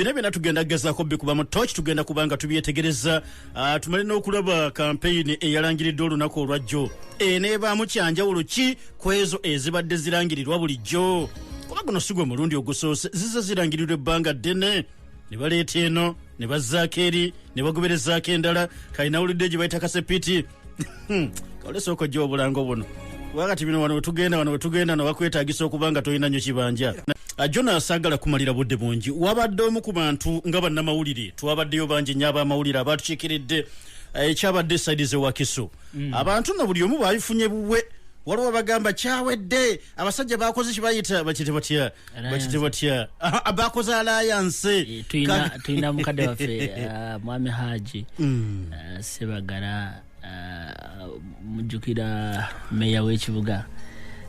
bino byona tugenda kugezako bikuba mu toch tugenda kubanga tubyetegereza ah, tumale n'okulaba kampeyini eyalangiridde olunaku olwajjo eneebaamu kyanjawulo ki ku ezo ezibadde zirangirirwa bulijjo kuba guno sigwe mulundi ogusoose zize zirangirirwa ebbanga ddene ne baleeta eno ne bazzaako eri ne bagoberezaako endala kalinawulidde gye bayita kasepiti Hmm. olesooka ojja obulango buno kuba kati bino wano wetugenda wano wetugenda nowakwetagisa okuba nga tolina nyo kibanja jona sagala kumalira budde bungi wabadde omu ku bantu nga bannamawulire twabaddeyo bangi nyo abamawulire abatukikiridde eh, ekyabadde esaidi zewakiso mm. abantu no buli omu babifunye buwe waliwo bagamba kyawedde abasajja bakoze kibayita bakite batya bakite batya abakoze alayanse tulina mukadde waffe uh, mwami haji mm. uh, sebagala uh, mujjukira meya w'ekibuga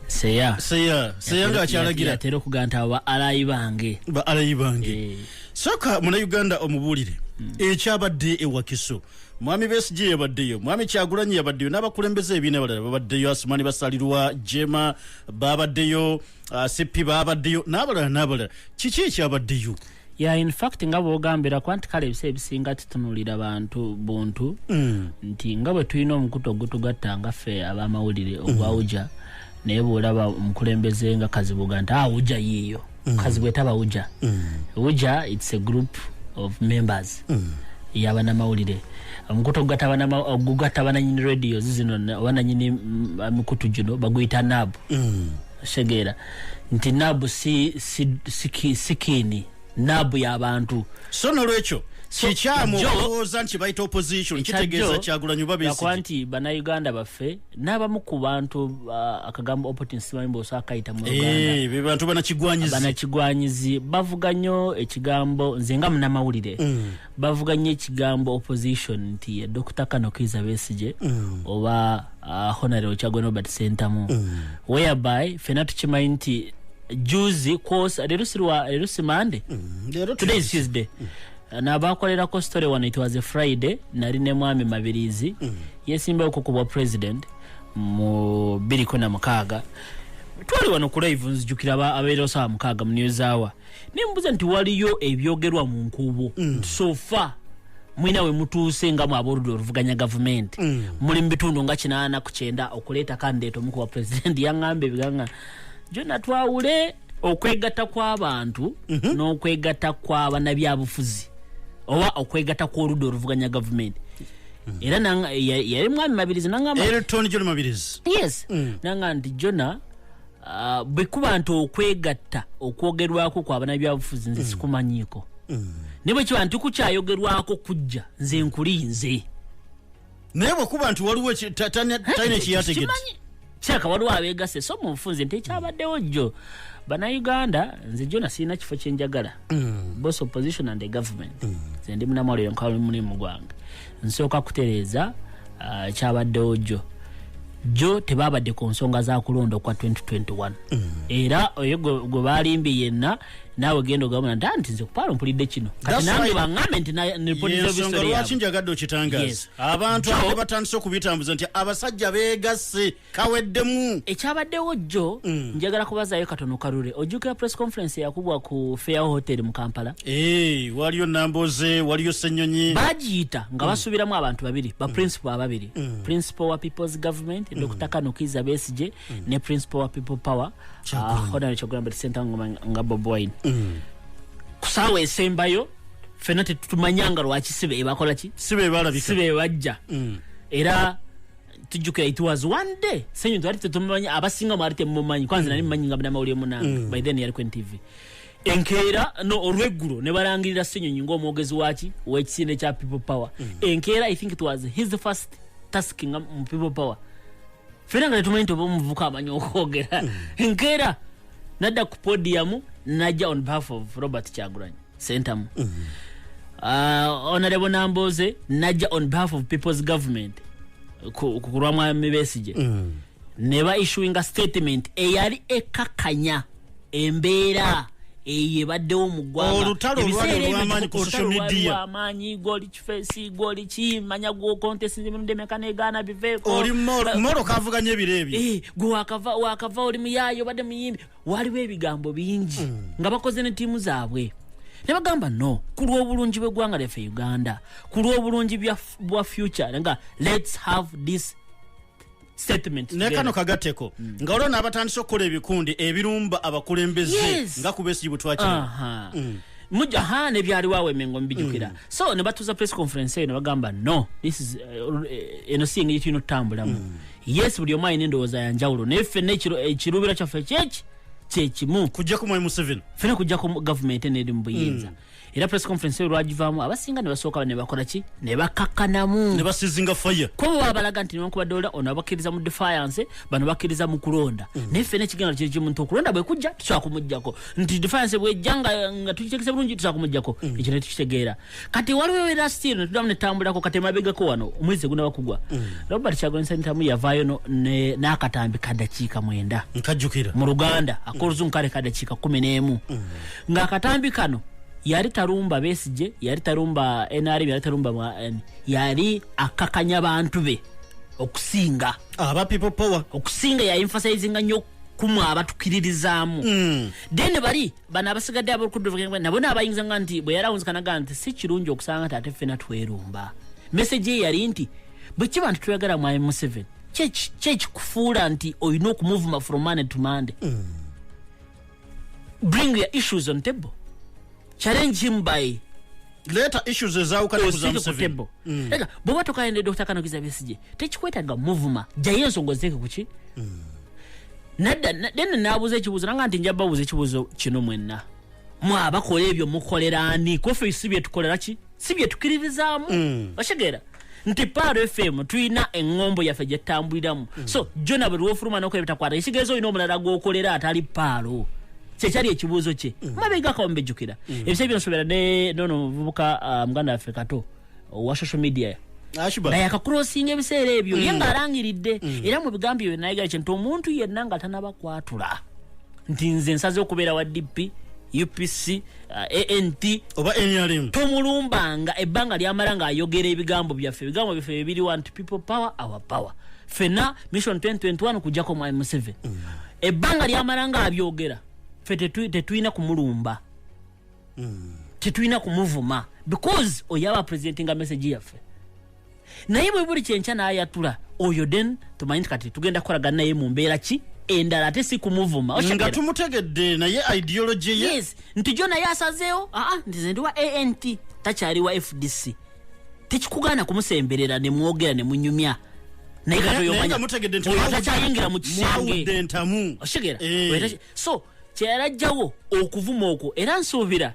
seya seya seya nga akyalagira atera okuganta aba alayi bange ba alayi bange eh. soka muna uganda omubuulire mm. ekyabadde ewakiso mwami besg yabaddeyo mwami kyagulanyi yabaddeyo n'abakulembeze ebiina balala babaddeyo asumani basalirwa jema babaddeyo ba asippi ah, baabaddeyo n'abalala n'abalala kiki ekyabaddeyo ya in fact nga bwogambira kuba nti kale ebiseera ebisinga tutunulira bantu buntu mm. nti nga bwe tulina omukutu ogutugatta nga ffe abamawulire ogwawuja mm. naye bwolaba omukulembeze nga kazibuga nti awuja ah, yiiyo mm. kazibwe taba wuja wuja its a group of members yabanamawulire omukutu ogugatta bananyini radios zino oba nanyini mm, mikutu gino baguyita nab mm. otegeera nti nab sikiini nab yabantu so nolwekyo kikyamu olowooza nti bayita opposition kitegeeza kyagulanyi babeakuba nti banauganda baffe n'abamu ku bantu uh, akagamba opportun simaimbosa akayita mu eh, bantu banakigwanyizi bavuga nnyo ekigambo nze nga munamawulire mm. bavuga nnyo ekigambo opposition nti eh, dokita kano kiiza besigye mm. oba uh, ah, honareo kyagwe nobert sentamu mm. whereby fena tukimanyi nti juzi kwosa leero sirwa leero simande mm. today is tuesday mm. Eh, nabakolerako story wano it was a friday nali ne mwami mabirizi mm. yesimbayo kukubwa president mu biriko na mukaaga twali wano ku live nzijukira abeera osawa mukaaga mu news hour naye mubuuza nti waliyo ebyogerwa mu nkuubo mm. nti sofa mulina we mutuuse nga mwabaoludde oluvuganya gavumenti mm. muli mu bitundu nga kinaana ku kyenda okuleeta kandideeto omu kuba pulezidenti yaŋŋamba ebiganga gyonna twawule okwegatta kw'abantu mhm. n'okwegatta kw'abanabyabufuzi oba okwegatta kw'oludda oluvuganya gavumenti mhm. era yali mwami mabirizi nangamba yes mm. nanga nti jona Ah, bwekuba nti okwegatta okwogerwako kwa banabyabufuzi nze mm. sikumanyiiko mm. naye bwekiba nti kukyayogerwako kujja nze nkuli nze naye bwekuba nti waliwo talina ekiyategeti kyaka waliwo abegase so mu nfunze nti ekyabaddewo jjo banauganda nze jona sirina kifo kyenjagala mm. both opposition and the government nze ndi munamwaliro nkola mulimu gwange nsooka kutereeza uh, kyabaddewo jjo jjo tebaabadde ku nsonga za kulonda okwa 2021 mm. era oyo gwe baalimbye yenna naawe genda ogabona nti anti nze kupaalo mpulidde kino kati nange baŋambe nti nipodizobisolwaki njagadde okitangaaza abantu abatandise okubitambuza nti abasajja beegasse kaweddemu ekyabaddewo jjo mm. njagala kubazaayo katono kalule ojjukira press conference yakubwa ku fair hotel mu kampala hey, eh, waliyo namboze waliyo senyonyi bagiyita nga mm. basuubiramu abantu babiri ba mm. principal ababiri mm. principal wa people's government mm. dr kanukiza besije mm. ne principal wa people power uh, honore kyogulambe tisentangoma nga boboin mm. kusaawa esembayo fena tetutumanyanga lwaki sibe ebakolaki sibe balabika sibe bajja mm. era tujjukira it was one day senyu twali tetumanyi abasinga mwali temumanyi kwanza nali mumanyi nga munamawulire munange mm. by then yali ku ntv enkeera no olweggulo ne balangirira senyonyi ngaomwogezi waki wekisinde kya people power mm. enkeera i think it was his first task nga mu people power fena nga tetumanyi toba omuvuka amanyi okwogera mm. enkeera nadda ku podiyamu najja on behalf of robert kyaguranyi sentamu mm -hmm. uh, honorable namboze najja on behalf of people's government kukulwa mwami besije mm -hmm. neba issuing a statement eyali ekakanya embeera eyo ebaddewo mu ggwangaebiseeraamanyi goli kifesi goli ki manya gwokontesindemeka negaana biveekooli moro kavuganya ebiro ebyo eh, gwe wakava oli muyaayo obadde muyimbi waaliwo ebigambo bingi mm. nga bakoze ne ttiimu zaabwe ne bagamba no ku lw'obulungi bw'eggwanga lyaffe uganda ku lw'obulungi bwa future nga lets have this nekano kagateko mm. nga olwo naabatandisa okukola ebikundi ebirumba abakulembeze yes. nga kubesigibu twakira uh -huh. mm. muja ha ne byali wawe mengo mbijukira mm. so ne batuza press conference eno bagamba no this is uh, eh, eno singa yitu no tambula mm. yes buli omu alina endowooza ya njawulo naye ffenna ekiruubiro kyaffe kyeki kyekimu kujjako mwai museveni ffena kujjako gavumenti eneeri mu buyinza mm. era press conference eyo lwagivaamu abasinga ne basooka ne bakola ki ne bakakkanamu ne basizinga faya kuba baba balaga nti newankubadde ola ono abakkiriza mu defiance bano bakkiriza mu kulonda mm. naye ffena ekigenda kiri kimu nti okulonda bwe kujja tusobola kumuggyako nti defiance bwejja nga tukitegese bulungi tusobola kumuggyako mm. ekyo ne tukitegeera kati waliwo era still netudamu netambulako kati emabegako wano omwezi gunaba kugwa mm. robert kyagonsanitamu yavaayo n'akatambi kadakiika mwenda nkajjukira mu luganda akoluzungu kale kadakiika kumi n'emu mm. ng'akatambi kano yali talumba besije yali talumba nrm yali talumba mwan yali akakanya bantu be okusinga aba people power okusinga yainfasizinga nyo kumwa abatukiririzaamu mm. then bali bano abasigadde abolukudduvugenga nabo naabayingiza nga nti bwe yarawunzikanaga nti si kirungi okusanga nti ate ffena twerumba meseji ye yali nti bwe kiba nti tweyagala mwami museveni kyekikufuula nti olina okumuvuma from money to monday mm. bring your issues on table challenge him by leeta issues ezawukana ku za museveni mm. ega bwoba tokayende dr kanokiza besije tekikwetaga muvuma jayo ensonga oziteeke kuki mm. nadda then nabuuza ekibuuzo nanga nti nja babuuza ekibuuzo kino mwenna mwabakola ebyo mukolera ani kofe si byetukolera ki si byetukiririzaamu mm. okitegeera nti par fm tulina eŋŋombo yaffe gye tutambuliramu mm. so jona buli lwofuluma nokola ebitakwata ekitegeeza olina omulala gwokolera atali paalo kyekyali ekibuuzo kye mm. mabegakawo mbejjukira mm. ebisa byonsobera ne nono muvubuka uh, muganda waffe kato owa social media naye akakurosinga ebiseera ebyo ye nga alangiridde era mu bigambo ebyo nayegera kye nti omuntu yenna nga tanabakwatula nti nze nsaze okubeera wa dp upc Uh, ant oba nrm tomulumbanga ebbanga lyamala ng'ayogera ebigambo byaffe ebigambo byaffe bibiri want people power our power fena mission 2021 kujjako mwai museven mm. ebbanga lyamala ng'abyogera fe tetulina kumulumba mm. tetulina kumuvuma because oyaba presentinga message yaffe naye bwe buli kyenkya n'ayatula oyo den tumanyi nti kati tugenda kukolagana naye mu mbeera ki endala ate si kumuvuma nga tumutegedde naye ideology ye yes nti jo naye asazeewo aa ah, ah, nti ze ndi wa ant takyali wa fdc tekikugaana kumusemberera ne mwogera ne munyumya naye katoyomanyakyayingira mu kisenge oshigera eh. so kyeyalajjawo okuvuma okwo era nsuubira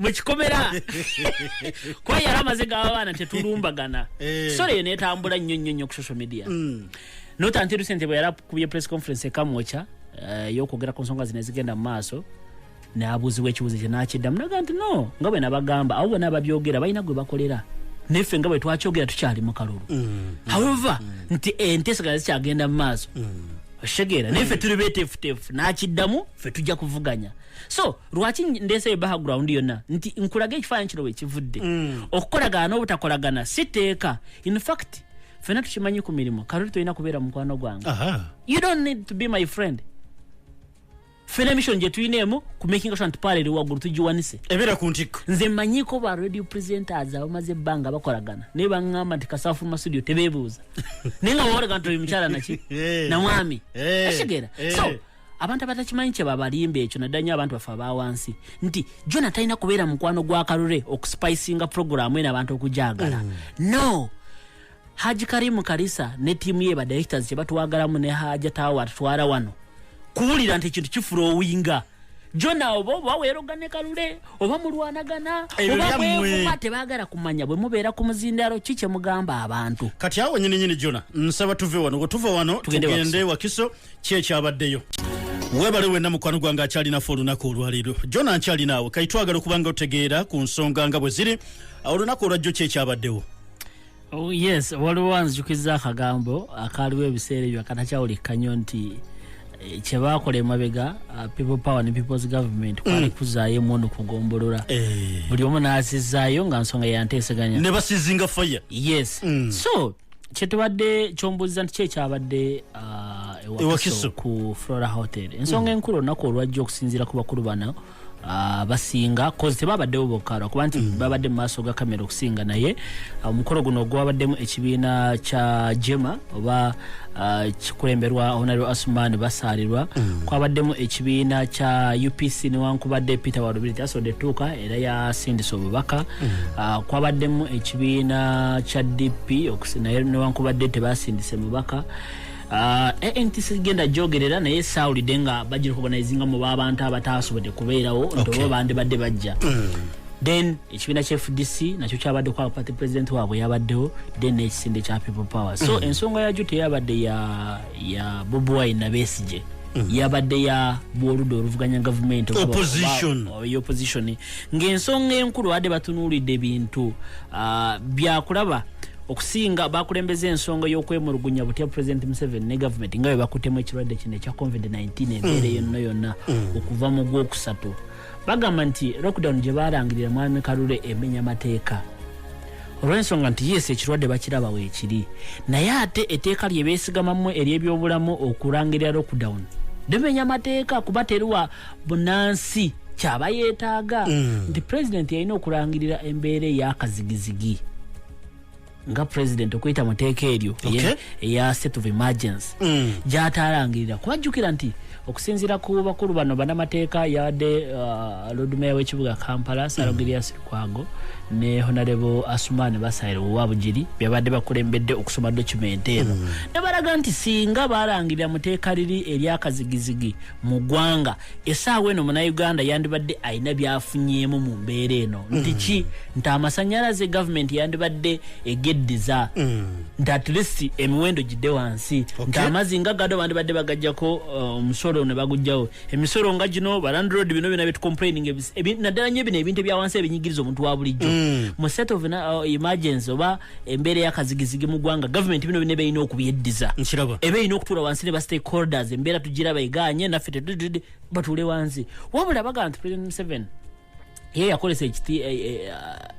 mu kikomera kuba yali amaze gaba baana tetulumbagana eh. sore eyo netambula nnyo nnyo nnyo ku social media mm. notantiru sente bwe yali akubye press conference ekamwoca eh, yokwogera ku nsonga zino ezigenda mu maaso nabuuziwa ekibuuzo kye nakiddamu naga nti no nga bwe nabagamba abo bona babyogera balina gwe bakolera neffe nga bwe twakyogera tukyali mu kalulu mm. however mm. nti entesegana zikyagenda mu maaso oshegera naye fe tuli betefutefu nakiddamu fe tujja kuvuganya so lwaki ndeeseyo background yonna nti nkulaga ekifaananyi kino wekivudde mm. okukolagana n'obutakolagana si tteeka in fact fena tukimanyi ku mirimu kaloli tolina kubeera mukwano gwange you don't need to be my friend fena emission gye tulina emu ku making sure nti paala eri waggulu tugiwanise ebeera ku ntikko nze manyiko ba radio presenters abamaze ebbanga bakolagana naye baŋŋamba nti kasaafu masudio tebeebuuza naye nga wawolaga nti oli mukyala naki namwami eh. akitegeera eh. so abantu abatakimanyi kyebabalimba ekyo naddala nyo abantu baffe abawansi nti jona talina kubeera mukwano gwa kalule okusipicinga puroguramu eno abantu okujagala mm. no haji karimu karisa ne tiimu ye badirectors kyebatwagalamu ne haja tawa atutwala wano kuwulira nti ekintu kifula owinga jona oba oba werogane kalule oba mulwanagana oba mwevuma tebagala kumanya bwe mubeera ku muzindalo ki kyemugamba abantu kati awo nyini nyini jona nsaba tuve wano wetuva wano tugende wakiso ki ekyabaddeyo webale wena mukwano gwange akyalinaffe olunaku olwaleero jona nkyalinaawe kaitwagala okuba nga otegeera ku nsonga nga bwe ziri olunaku olwajjo ki ekyabaddewo oh, yes waliwo wanzijukiza akagambo akaaliwo ebiseera ebyo akatakyawulikkanyo nti eh, kyebakola emabega uh, people power ne peoples government mm. kwali kuzaayo emundu kugombolola eh. buli omu naazizaayo nga nsonga yanteeseganya ne basizinga fire yes mm. so kyetubadde kyombuuza nti kyekyabadde ah, ewakiso ku flora hotel ensonga mm. enkulu olunaku olwajja okusinziira ku bakulu bana ah, basinga kozi tebabaddewo bokka lwakuba nti mm. babadde mu maaso ga kamera okusinga naye ah, omukolo guno ogwabaddemu ekibiina kya jema oba kikulemberwa honareo asuman basaalirwa mm. kwabaddemu ekibiina kya upc newankubadde peter walubiri tasodde tuuka era yasindisa obubaka mm. ah, kwabaddemu ekibiina kya dp naye newankubadde tebasindise mubaka Ah, eh, eh, ntisi genda jogerera naye sawulidde nga bajira okuganizinga mu babantu abataasobodde kubeerawo nti oba bandibadde bajja hmm. then ekibiina kya fdc nakyo kyabadde kwa party president waabwe yabaddewo then nekisinde kya people power so hmm. ensonga yakyo teyabadde ya bobi wine nabesigye mhm. yabadde ya bwoludda oluvuganya gavumenti opposition ng'ensonga enkulu badde batunuulidde ebintu ah, byakulaba okusinga bakulembeza ensonga y'okwemulugunya butya president museven ne gavumenti nga bwe bakutemu ekirwadde kino ekya covid-19 embeera mm. yonna yonna mm. okuva mu gwokusatu bagamba nti lockdown gye baalangirira mwami kalule emenya mateeka olw'ensonga nti yeesi ekirwadde bakiraba weekiri naye ate etteeka lye beesigamamu ery'ebyobulamu okulangirira lockdown limenya mateeka kuba teriwa bunansi kyaba yeetaaga mm. nti pulezidenti yalina okulangirira embeera ey'akazigizigi nga president okuyita mu teeka eryo Okay. eya- eya state of emergency Mm. gyataalangirira kuba jjukira nti okusinziira ku bakulu bano banamateeka yabadde uh, lord mayor w'ekibuga kampala sarogirias lukwago ne honarebo asumani basaire owabugiri byabadde bakulembedde okusoma document eno ne balaga nti singa baalangirira mu teeka liri eryakazigizigi mu ggwanga esaawa eno munauganda yandibadde alina byafunyeemu mu mbeera eno nti mm. ki nti amasanyalaze gavumenti yandibadde egeddiza mm. nti at least emiwendo gidde wansi nti amazzi nga gado bandibadde bagajjako uh, omusolo ne bagujjawo emisolo nga gino balandrod bino byona byetucomplaining naddala nyo bino ebintu ebyawansi ebinyigiriza omuntu wa bulijjo mm. mu set of uh, emergency oba embeera yakazigizigi mu ggwanga gavumenti bino bine berina okubyeddiza eba erina okutuula wansi ne ba stakeholders embeera tugiraba eganye naffe tetudid batuule wansi wabula baga nti president museven ye yakolesa eh, eh,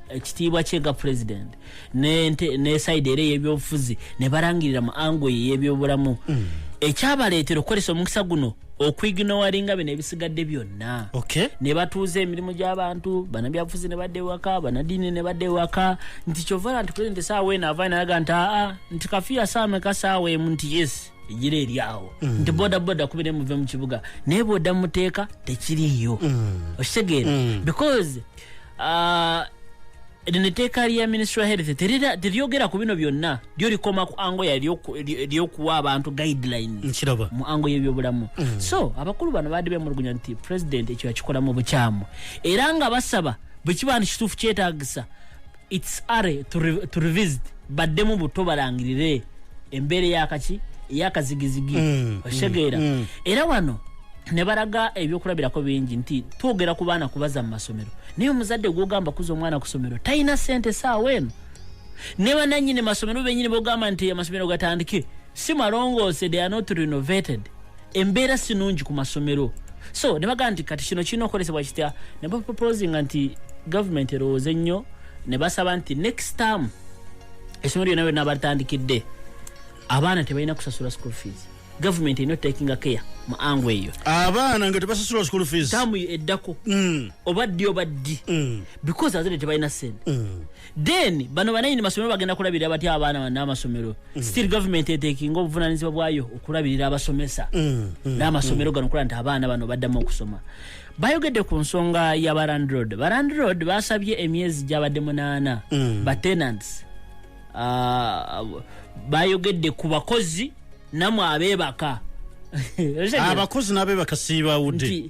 ekitiibwa kye nga president nesaidi era eyebyobufuzi ne balangirira mu ango ye yebyobulamu mm. ekyabaleetera okukolesa omukisa guno okuignowaringa bino ebisigadde byonna okay. ne batuuza emirimu gy'abantu banabyabufuzi ne badda ewaka banadiini ne badda ewaka nti kyovala nti president saawa eno avaa nalaga nti aa nti kafiya saameka saawa emu nti yes egira eri awo mm. nti bodaboda kubire muve mu kibuga naye bwoda muteeka tekiriiyo mm. okitegeera mm. because Ah, lino etteeka lya ministry wa health terira- teryogera ku bino byonna lyo likoma ku ango yalyoku- ly- lyokuwa abantu guidelines nkiraba mu ango y'ebyobulamu so abakulu bano baadde bemulugunya nti president ekyo yakikolamu bukyamu era nga basaba bwe kiba nti kituufu kyetagisa its are to, re, to revisit baddemu buto balangirire embeera eyakaki eyakazigizigi mm, oshegeera mm, mm. era wano ne balaga ebyokulabirako bingi nti twogera ku baana kubaza mu masomero naye omuzadde gwogamba kuza omwana ku somero talina sente saawa eno ne bananyini masomero benyini bogamba nti amasomero gatandike si malongoose they are not renovated embeera sinungi ku masomero so ne bagamba nti kati kino kirina okukolesebwa kitya ne baproposinga nti government erowooze nnyo ne basaba nti next term essomero lyona lyona batandikidde abaana tebalina kusasula school fees government erina otakinga care mu ango eyo abaana nga tebasasula school fees tamu eddako mm. oba ddi oba ddi mm. because azadde tebalina sente mm. then bano bananyini masomero bagenda kulabirira batya abaana bana amasomero mm. still government etekinga obuvunanyizibwa bwayo okulabirira abasomesa mm, mm, n'amasomero gano okulaba nti abaana bano baddamu okusoma bayogedde ku nsonga ya barandrod barandrod basabye emyezi gyabadde munaana batenants ah, bayogedde ku bakozi namwe abebaka abakozi nabebaka sibawudde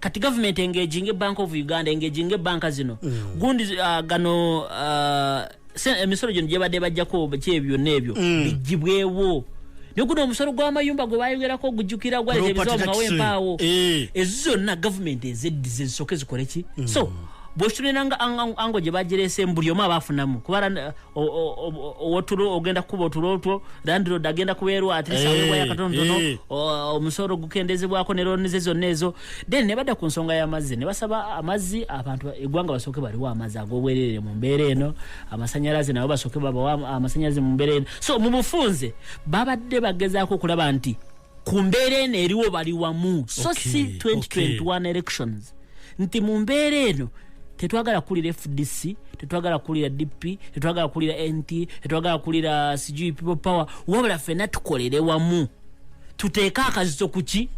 kati government engaging e bank of uganda engaging e bank zino mm. gundi uh, gano uh, emisolo gino gyebadde bajjako kyebyo nebyo mm. bijibwewo naye guno omusolo gw'amayumba gwe bayogerako ogujjukira gwaleta ebizawo mumawo empaawo eh. ezo zonna gavumenti ezeddiza ezisooke zikole ki mm. so bwekitulinanga ango gye bagireese mu buli omu aba afunamu kubara owotulo ogenda kukuba otulo otwo landlord agenda kubeerwa atisawebwa eh, yakatonotono eh. omusolo ogukendezebwako ne looni ze zonna ezo then ne badda ku nsonga y'amazzi ne basaba amazzi abantu eggwanga basooke baliwo amazzi ag'obwereere mu mbeera eno amasanyalaze nabo basooke babawa amasanyalaze mu mbeera eno so mu bufunze babadde bagezaako okulaba nti ku mbeera eno eriwo bali wamu so okay, si 2021 okay. elections nti mu mbeera eno tetwagala kukulira fdc tetwagala kukulira dp tetwagala kukulira nt tetwagala kukulira sijui people power wabula fena tukolere wamu tuteeke akazito kuki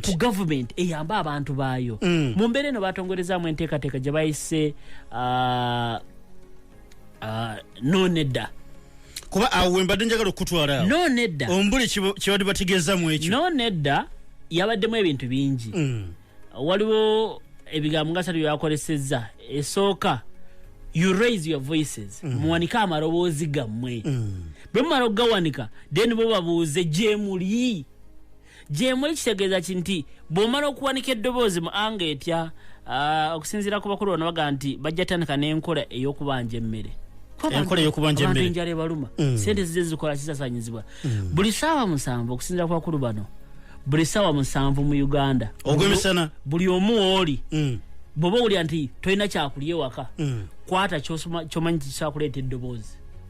ku gavument eyambe abantu baayo mm. mu mbeera eno batongorezamu enteekateeka gye bayise uh, uh, nonedda kuba awo wembadde njagala okukutwala awo no nedda ombuli kibadde bategeezamu ekyo no nedda yabaddemu ebintu bingi mm. waliwo ebigambo nga satu byakolesezza esooka you raise your voices mm. muwanike amaloboozi gammwe mm. bwe mumala okugawanika then bo babuuze gyemuli gyemuli kitegeeza ki nti bw'omala okuwanika eddoboozi mu anga etya ah, okusinziira ku bakulu bano baga nti bajja tandika n'enkola ey'okubanja emmere enkola ey'okubanja emmere enjala ebaluma mm. sente zize zikola kisasanyizibwa mm. buli saawa musanvu okusinziira ku bakulu bano buli saawa musanvu mu uganda ogwemisana buli omu wooli mm. bwoba owulira nti tolina kyakulya ewaka kwata kyomanyi kikyakuleeta eddoboozi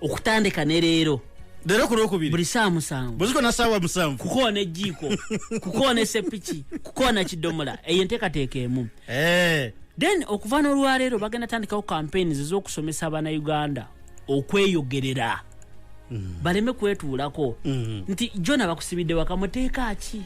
okutandika ne leero leero ku lwokubiri buli saa musanvu buziko na saawa musanvu kukoona ejjiiko kukoona esepiki kukoona kidomola eyo enteekateeka emu eh. then okuva n'olwaleero bagenda tandikawo campaigns ez'okusomesa abanauganda okweyogerera mm. baleme kwetuulako mm. nti jona bakusibidde waka muteeka ki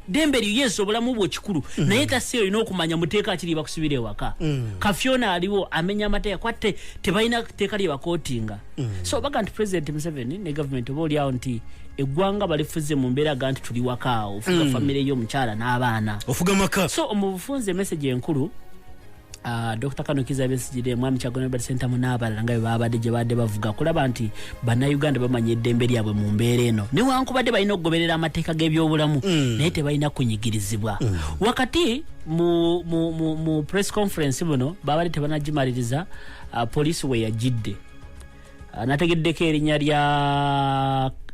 dembe lyo yes obulamu bwo kikulu mm. naye tasi olina okumanya muteeka kiri bakusibira ewaka mm. kafyona aliwo amenya amateeka kwatte tebalina teeka lye bakotinga mm. so baga nti president museveni ne government oba oliawo nti eggwanga balifuze mu mbeera ga nti tuli wakaawo ofuga mm. famire yo omukyala n'abaana ofuga maka so omubufunze emesage enkulu Ah, dr kano kiza besigire mwami kyagono robert sentamu n'abalala nga bebabadde gye baadde bavuga kulaba nti bannayuganda bamanya eddembe lyabwe mu mbeera eno newankubadde balina okugoberera amateeka g'ebyobulamu mm. naye tebalina kunyigirizibwa mm. wakati mu, mu, mu, mu press conference buno babadde tebanagimaliriza uh, ah, poliisi weyagidde Ah, nategeddeko erinnya lya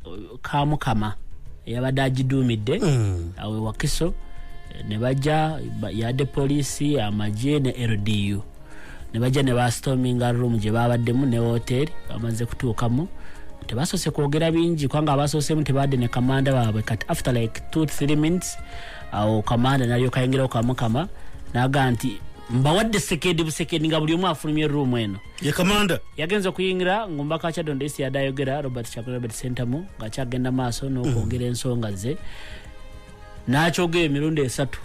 uh, kamukama eyabadde agiduumidde hmm. awe wakiso eh, ne bajja yadde poliisi amagye ne ldu ne bajja ne bastominga room gye babaddemu ne woteeri bamaze kutuukamu tebasoose kwogera bingi kubanga abasoosemu tebadde ne kamanda baabwe kati after like two three minutes awo kamanda nalyokayingirawo kamukama naga nti mbawadde sekendi busekendi nga buli omu afulumye room eno ye kamanda yagenze okuyingira ng'omubaka wa kyadondo esi yadde ayogera robert chapel robert sentamu ng'akyagenda maaso n'okwongera mm. ensonga ze n'akyogera emirundi esatu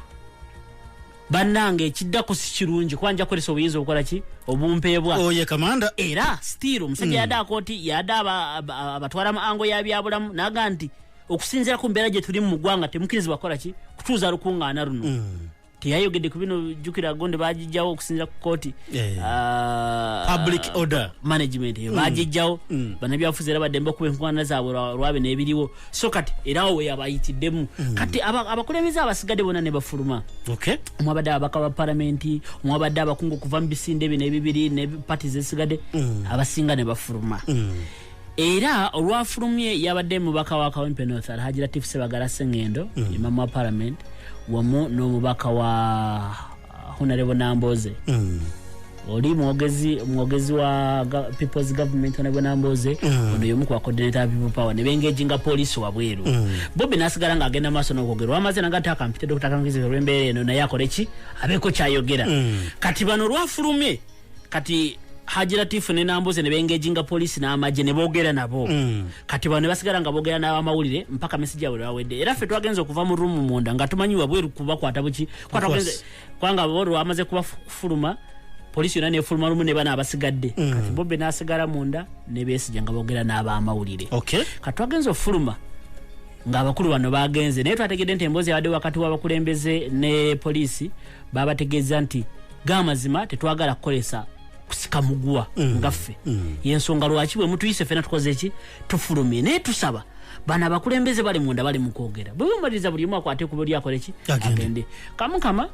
bannange ekiddako si kirungi kuba nja kukozesa obuyinza obukola ki obumpeebwa oye oh, kamanda era stiiro omusajja mm. yadde akooti yadde abatwala mu ango ya byabulamu naga nti okusinziira ku mbeera gye tulimu mu ggwanga temukirizibwa kukola ki kutuuza lukuŋŋaana luno mm. teyayogedde ku bino jukira gonde bagijjawo okusinzira ku kooti eh. ah, public order management eyo eh, mm. bagijjawo mm. banabyafuzi era baddembe okuba enkwana zaabwe lwabe nebiriwo so kati era awo weyabayitiddemu mm. kati abakulembeze abasigadde bona nebafuluma omwabadde ababaka ba palamenti omwabadde abakungu okuva mu bisinde bino ebibiri ne pati zesigadde abasinga nebafuluma era olwafulumye yabadde mubaka wa kawempe north alhaji latif sebagala sengendo mm. imamu wa parliament wamu n'omubaka wa uh, honarebo namboze mm. oli mwogezi mwogezi wa people's government honarebo namboze mm. ono yomu kwa coordinator wa people power nebengeji nga polisi wabweru mm. bobi nasigala nga agenda maaso n'okwogera wamaze nanga ate akampite dokita kangizi olw'embeera eno naye akoleki abeeko kyayogera mm. kati bano olwafulumye kati haji latifu ne nambuze ne bengeginga poliisi n'amagye ne boogera nabo mm. kati bano ne basigala nga boogera n'abamawulire mpaka mesigi yabwe lwawedde era ffe twagenze okuva mu rumu munda nga tumanyi wabweru kubakwata buki kwanga bo lwamaze kubafuluma poliisi yona nefuluma lumu ne bana abasigadde mm. kati bobe n'asigala munda ne besigya nga boogera n'abamawulire kati twagenze okufuluma ng'abakulu bano bagenze naye twategedde nti emboozi yabadde wakati w'abakulembeze ne poliisi babategeeza nti gamazima tetwagala kukolesa kusika muguwa mm. nga ffe mm. yensonga lwaki bwe mutuyise fena tukoze eki tufulumye naye tusaba bana abakulembeze bali munda bali mukwogera bwebumaliriza buli omu akwate kuba oli akole ki agende kamukama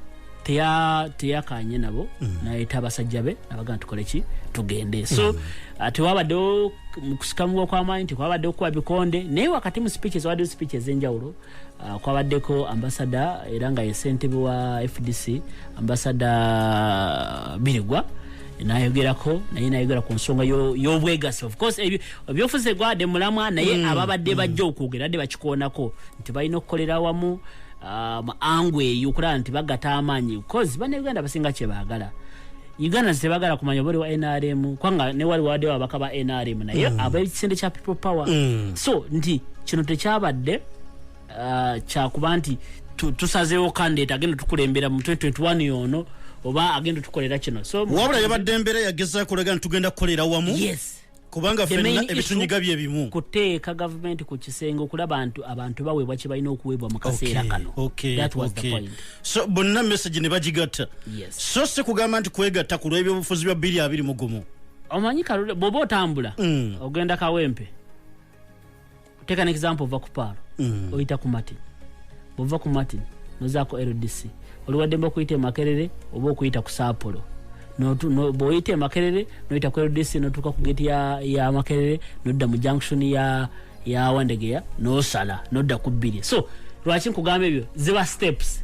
teyakanye nabo mm. nayeta abasajja be nabaga tukole ki tugende so ah, tewabaddewo mukusikamuwa kwamaanyi tekwabaddewo kukuba bikonde naye wakati mu speeches wabaddewo speeches enjawulo Uh, kwabaddeko ambasada era nga ye ssentebe wa fdc ambasada birigwa nayogerako naye nayogera ku nsonga y'obwegassi ofcourse ebyofuzi egwade mulamwa naye mm, ababadde mm. bajja okwogera adde bakikoonako nti balina okukolera wamu uh, angu eyo okulaba nti bagata amaanyi bcause banauganda basinga kyebaagala ugandans tebagala kumanya oba oli wa nrm kubanga newali wadewo abaka ba nrm naye mm. abekisinde kya people power mm. so nti kino tekyabadde uh, kyakuba nti tusazeewo kandidate agenda tukulembera mu 2021 yono oba agenda tukolera kino so wabula yabadde embeera yagezakulaga nti tugenda kukolera wamu yes kubanga fenna ebitunyiga bye bimu kuteeka gavumenti ku kisenge okulaba nti abantu baweebwa kye balina okuweebwa mu kaseera kano so bonna message ne bagigatta so si kugamba nti kwegatta ku lw'ebyobufuzi bya bbiri abiri mu gumu omanyi kalule bw'oba otambula mm. ogenda kawempe take an example ova kupaalo mm. oyita ku martin bwova ku martin nozaako ldc oliwaddemba okuyita emakerere oba okuyita ku saapolo bwoyita emakerere noyita ku ldc notuuka ku geti ya makerere nodda mu junction ya yawandegeya nosala nodda ku bbiri so lwaki nkugamba ebyo ziba steps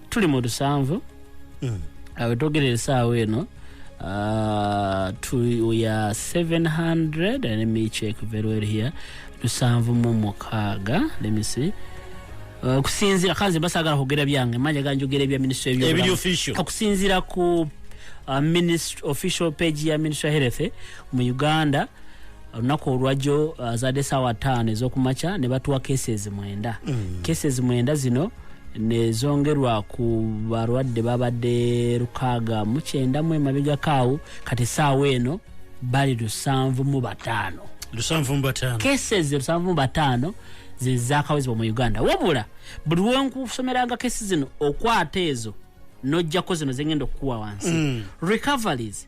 tuli mu lusanvu mm. abetogera esaawa eno Uh, to we are 700 and let me check very well here lusanvu mu mukaaga let me see uh, kusinzira kanze basagala kugera byange manya ganjogera ebya ministry ebyo kakusinzira ku uh, ministry official page ya ministry health mu uganda olunaku olwajjo uh, azadde saawa taano ezokumakya ne batuwa cases mwenda mm. cases mwenda zino nezongerwa ku balwadde babadde lukaaga mukyenda mu emabegako awo kati saawa eno bali lusanvu mu bataano cases lusanvu mu bataano zezakawezebwa mu uganda wabula buli wenkusomeranga kesi zino okwata ezo nojjako zino zengenda okukuwa wansi mm. recoveries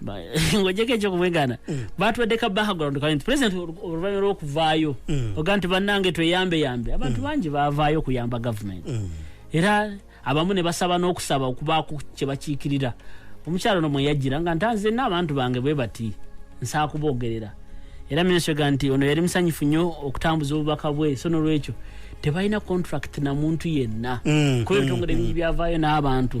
Ba- ng'ogyeko ekyokubwegaana baatuwadde ka background kali nti president olu- oluvannyuma lw'okuvaayo oga nti bannange tweyambeyambe abantu bangi baavaayo okuyamba gavumenti era abamu ne basaba n'okusaba okubaako kye bakiikirira omukyalo ono mweyajjira nga ntanze n'abantu bange bwe bati nsaa kuboogerera era minisitiri ga nti ono yali musanyufu nnyo okutambuza obubaka bwe so n'olwekyo tebalina contract na muntu yenna Mm, kuba ebitongole bingi byavaayo n'abantu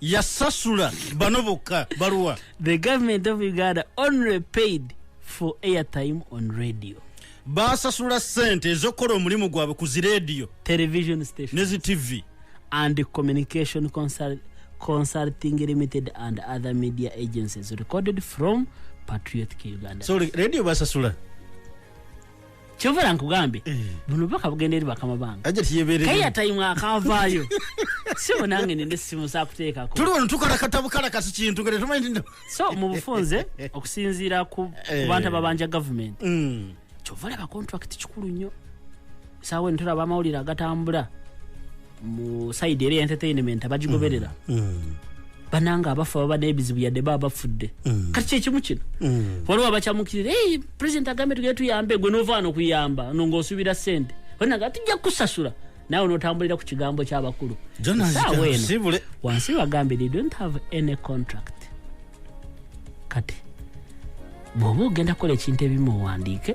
yasasula bano bokka baluwa the government of uganda only paid for airtime on radio basasula sente ezokukola omulimu gwabwe ku ziradio television station nezi tv and communication consult consulting limited and other media agencies recorded from patriotic uganda so radio basasula kyovera nkugambe eh. buno bubaka bugenda eri bakama bange kaiya tayimu akavaayo sibo nange nina essimu zakuteekako tuli wano tukola katabukala kati kintu gere tumanyi nti so mu bufunze okusinziira ku eh. bantu ababanja gavumenti mm. kyova olaba kontrakiti kikulu nnyo saawa eno tulaba amawulire agatambula mu sayidi era entertainment abagigoberera mm. mm. bananga abafa baba n'ebizibu yadde baba bafudde mm. kati kyekimu kino mm. waliwo abakyamukirira e president agambe tugere tuyambe gwe nova wano okuyamba no ngaosuubira sente onaga tujja kukusasula nawe notambulira ku kigambo kyabakulu saawa eno wansi bagambe they don't have any contract kati bwoba ogenda kukola ekintu ebimu owandiike